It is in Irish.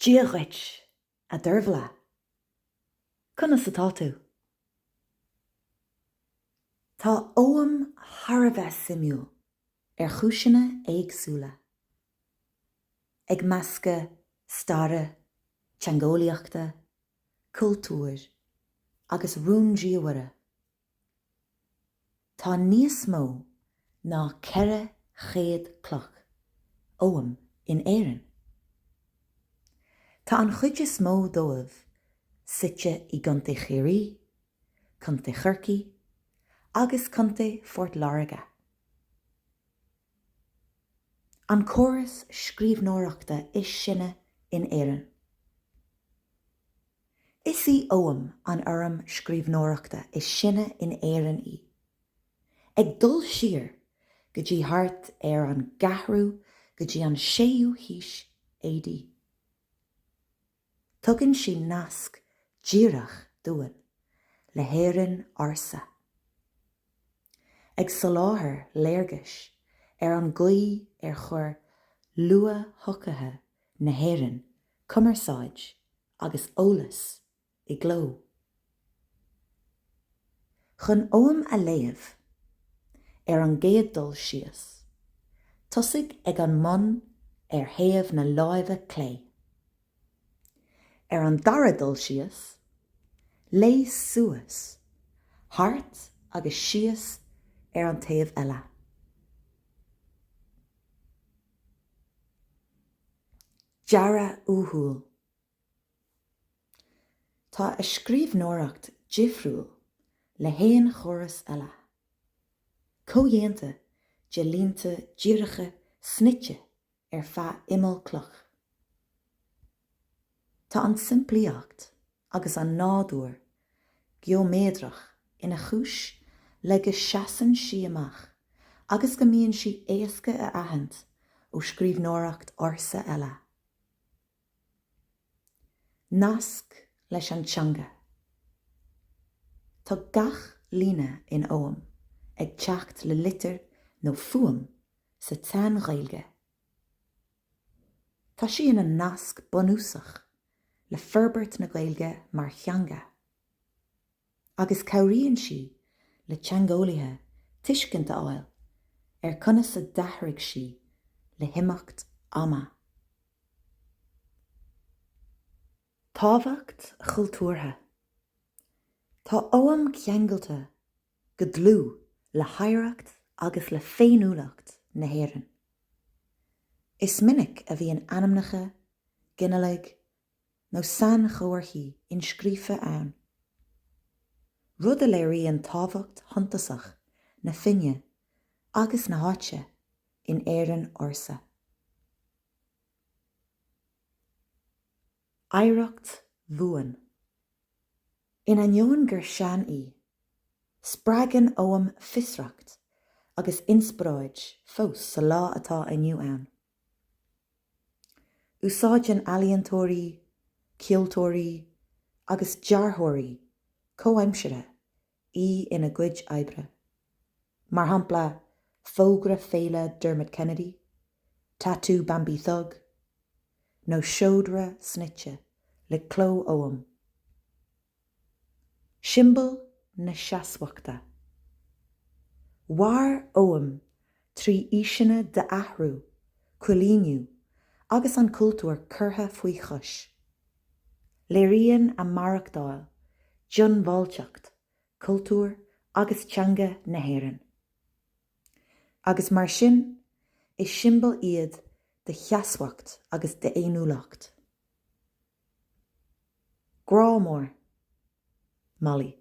Dia dhuit, a Dervla! Conas atá tú? Tá Ogham thar a bheith suimiúil ar chúiseanna éagsúla, ag meascadh staire, teangeolaíochta, cultúir agus rúndiamhaire Tá níos mó ná 400 cloch Oghaim in Éirinn. Tá an chuid is mó díobh suite i gContae Chiarraí, Contae Chorcaí agus Contae Phort Láirge. An córas scríbhneoireachta is sine in Éirinn. Is í Ogham an fhoirm scríbhneoireachta is sine in Éirinn í, ag dul siar go dtí thart ar an gceathrú go dtí an séú haois AD. Tugann sí nasc díreach dúinn le hÉirinn ársa, ag soláthar léargais ar an gcaoi ar chuir luath-shochaithe na hÉireann cumarsáid agus eolas i gcló. Chun ogham a léamh, ar an gcéad dul síos, tosaigh ag an mbun ar thaobh na láimhe clé. Ar an dara dul síos, léigh suas, thart agus síos ar an taobh eile. Dearadh uathúil Tá a scríbhneoireacht difriúil le haon chóras eile. Comhdhéanta de línte díreacha snoite ar feadh imeall cloch. Tá an tsimplíocht agus an nádúr geoiméadrach ina chúis le go seasann sí amach agus go mbíonn sí éasca a aithint ó scríbhneoireacht ársa eile. Nasc leis an teanga. Tá gach líne in ogham ag teacht le litir nó fuaim sa tSean-Ghaeilge. Tá sí ina nasc bunúsach le forbairt na Gaeilge mar theanga agus cabhraíonn sí le teangeolaithe tuiscint a fháil ar conas a d'athraigh sí le himeacht ama. Tábhacht chultúrtha Tá Ogham ceangailte go dlúth le hoidhreacht agus le féiniúlacht na hÉireann. Is minic a bhíonn ainmneacha, ginealaigh nó sainchomharthaí inscríofa ann, rud a léiríonn tábhacht shuntasach na fine agus na háite in Éirinn ársa. oidhreacht bhuan. In ainneoin gur sean í, spreagann Ogham fiosracht agus inspioráid fós sa lá atá inniu ann. Úsáideann ealaíontóirí, ceoltóirí agus dearthóirí comhaimseartha í ina gcuid oibre. Mar shampla, fógra féile Dermot Kennedy, tatú Bambie Thug, nó seodra snoite le cló Ogham. Siombail na seasmhachta. Mhair Ogham trí aoiseanna d'athrú, coilíniú agus an cultúr curtha faoi chois. Léiríonn a maireachtáil diongbháilteacht cultúir agus teanga na hÉireann, agus mar sin, is siombail iad de sheasmhacht agus d'fhéiniúlacht. Grá mór. Molly.